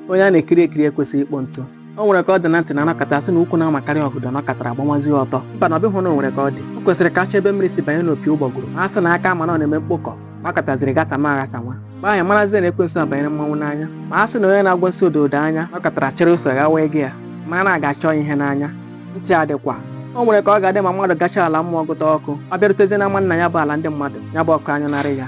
onye a na-ekiri ekiri ekwesịghị ikpo ntụ o nwere ka ọ dị na ntị na a nọkata sị na ukwu na-amakarị ọgọdọ nọkatara gbanwazie ọtọ mba na ọ bụghị na o nwere ka ọ dị o kwesịrị ka a chọọ ebe mmiri si banye n'opi ụgbọgụrụ ma a sị na aka a ma na ọ na-eme mkpokọ nọkataziri ghasanwa aghasanwa mgbe ahụ marazie na ekwensu abanyere mmanwụ n'anya ma a sị na onye na-agwa nsị odo odo anya nọkatara chịrị ụsọ ghawa ego ya mara na a ga-achọ ihe n'anya ntị adịkwa o nwere ka ọ ga-adị ma mmadụ gachaa ala mmụọ gụta ọkụ ọ bịarutezie n'ama nna ya bụ ala ndị mmadụ ya bụ ọkụ anyụnarị ya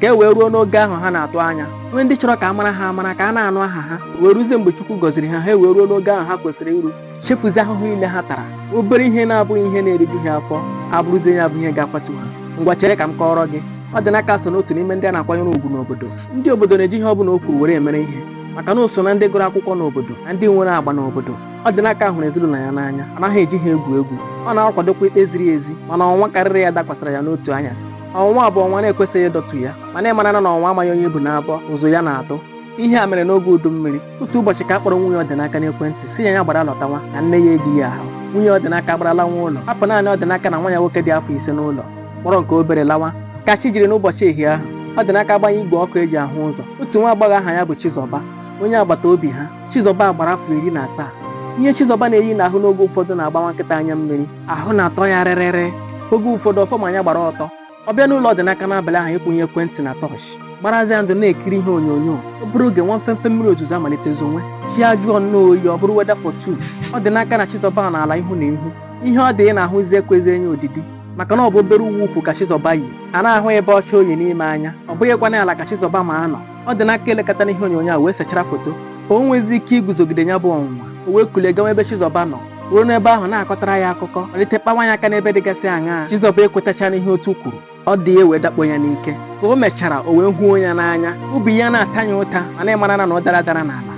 ka e wee ruo n'ogo ahụ ha na-atụ anya nwee ndị chọrọ ka a mara ha amara ka a na-anụ aha ha wee ruzie mgbe Chukwu gọziri ha ha ewee ruo n'ogo ahụ ha kwesịrị iru chefuzie ahụhụ niile ha tara obere ihe na-abụghị ihe na-eriju ha afọ abụrụzie ya bụ ihe ga-akwatu ha ngwa chere ka m kọọrọ gị ọdịnaka so n'otu n'ime ndị a na-akwanyere ugwu n'obodo ndị obodo na-eji ihe ọ bụla o kwuru were emere ihe maka na o so na ndị gụrụ akwụkwọ n'obodo na ndị nwere agba n'obodo ọdịnaka hụrụ ezinụlọ ya n'anya anaghị eji ha egwu egwu ọ na-akwadokwa ikpe ziri ezi mana ọnwa karịrị ya dakwasara ya n'otu anyasị ọnwụnwa bụ ọnwa na-ekwesịghị ịdọtu ya mana ị mara na ọnwa amaghị onye ibu na-abọ ụzụ ya na-atụ ihe a mere n'oge udu mmiri otu ụbọchị ka a kpọrọ nwunye ọdịnaka n'ekwentị sị ya ya gbara lọtanwa na nne ya ejighị ahụ nwunye ọdịnaka agbara lanwa ụlọ hapụ naanị ọdịnaka na nwa ya nwoke dị afọ ise n'ụlọ kpọrọ nke obere lawa ka chi jiri n'ụbọchị ehi ahụ ọdịnaka agbanye igwe ọkụ e ji ahụ ụzọ otu nwa agbọghọ aha ya bụ Chizọba onye agbata obi ha Chizọba gbara afọ iri na asaa ihe Chizọba na-eyi n'ahụ n'oge ụfọdụ na-agbawa nkịta anya mmiri ahụ na-atọ ya rịrịrị oge ụfọdụ ọ fọ ma ya gbara ọtọ ọ bịa n'ụlọ ọdịnaka n'abalị ahụ ịkwụnye ekwentị na tọọchị gbarazi ya ndụ na-ekiri ihe onyonyo obere oge nwa mfemfe mmiri ozuzo amalite zonwe chi ajụọ nnọọ oyi ọ bụrụ weather for two ọdịnaka na chizọba nọ ala ihu na ihu ihe ọdị na-ahụzi ekwezi ya odidi maka na ọ bụ obere uwe ukwu ka chizọba yi a na-ahụ ịbe ọcha o yi n'ime anya ọ bụghịkwa ịnọ ala ka chizọba ma anọ ọdịnaka elekata n'ihe onyonyo a wee sechara foto ka o nwezi ike iguzogide ya bụ ọnwụnwa o wee kulie gawa ebe Chizọba nọ ruo n'ebe ahụ na-akọtara ya akụkọ malite kpawa ya aka n'ebe dịgasị aṅaa Chizọba ekwetacha n'ihe otu kwuru ọdị ewee dakpo ya n'ike ka o mechara o wee huo ya n'anya obi ya na-ata ya ụta mana ị mara na ụdara dara n'ala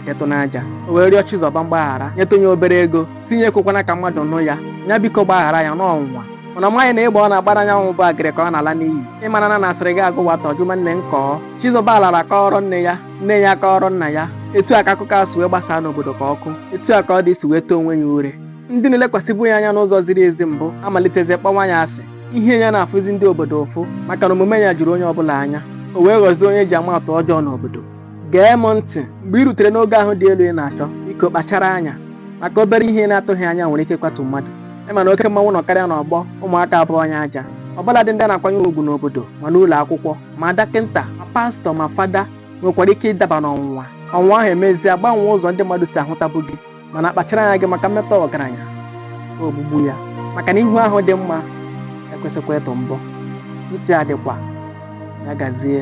emetụna aja o wee rịọ Chizọba mgbaghara nyetụ ya obere ego sị ya ekwekwana ka mmadụ nụ ya ya biko gbaghara ya na ọ ọnwụnwa mana ọ maghị na ịgba ọ na-agbara anyanwụ bụ agịrị ka ọ na-ala n'iyi ị mara na asịrị ga-agụ nwata ọ jụma nne m kọọ chizọba lara kọọrọ nne ya nne ya kọọrọ nna ya etu a ka akụkọ a si wee gbasaa n'obodo ka ọkụ etu a ka ọdị si wee too onwe ya ure ndị na-elekwasịbụ ya anya n'ụzọ ziri ezi mbụ amalitezie kpọnwa ya asị ihe ya na-afụzi ndị obodo ụfụ maka na omume ya juru onye ọbụla anya o wee ghọzie onye e ji ama atụ ọjọọ n'obodo gee m ntị mgbe ị rutere n'ogo ahụ dị elu ị na-achọ biko kpachara anya maka obere ihe ị na-atụghị anya nwere ike ịkwatu mmadụ ị ma na oke mmanwụ nọkarịa n'ọgbọ ụmụaka abụọ ya aja ọ bụladị ndị a na-akwanyere ugwu n'obodo ma n'ụlọ akwụkwọ ma dọkịnta ma pastọ ma fada nwekwara ike ịdaba n'ọnwụnwa ọnwụnwa ahụ emezie gbanwee ụzọ ndị mmadụ si ahụtabụ gị mana kpachara anya gị maka mmetọ ọgaranya ogbugbu ya maka na ihu ahụ dị mma ekwesịkwa ịtụ mbọ ntị adịkwa ya gazie